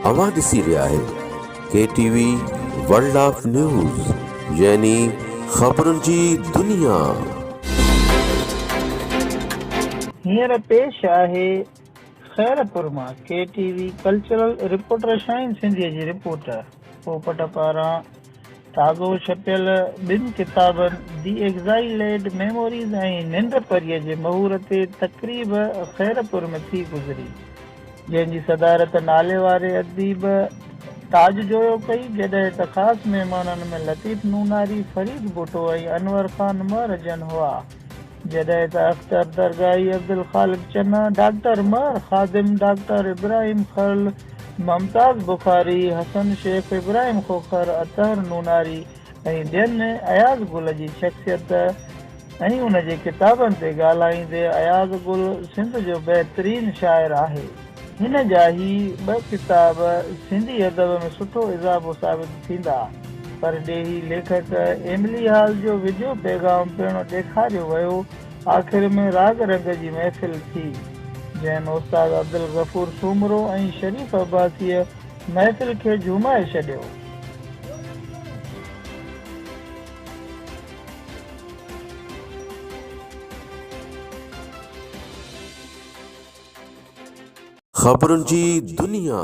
اوهان ڏسي رهيا آهيو K T V world of news يعني خبرن جي دنيا. هينئر پيش آهي خيرپور مان K T V cultural reporter Shaheen سنڌيء جي رپورٽ پوپٽ پاران. تازو ڇپيل ٻن ڪتابن دي ايگزائيليڊ ميموريز ۽ ننڊ پريء جي مهور تي تقريب خيرپور ۾ ٿي گذري، جنهن جي صدارت ناليواري اديب تاج جويو ڪئي، جڏهن ته خاص مهمانن ۾ لطيف نوناري، فريد ڀٽو ۽ انور خان مهر جن هئا. جڏهن ته اختر درگاهي، عبدالخالق چنا، ڊاڪٽر مهر خادم، ڊاڪٽر ابراهيم خرل، ممتاز بخاري، حسن شيخ، ابراهيم کوکر، اطهر نوناري ۽ ٻين اياز گل جي شخصيت ۽ ان جي ڪتابن تي ڳالهائيندي اياز گل سنڌ جو بهترين شاعر آهي. هن جا هي ٻه ڪتاب سنڌي ادب ۾ سٺو اضافو ثابت ٿيندا. پرڏيهي ليکڪ ايملي هال جو وڊيو پيغام پڻ ڏيکاريو ويو. آخر ۾ راڳ رنگ جي محفل ٿي، جنهن ۾ استاد عبدالغفور سومرو ۽ شريف عباسيء محفل کي جهومائي ڇڏيو. خبرن جي دنيا.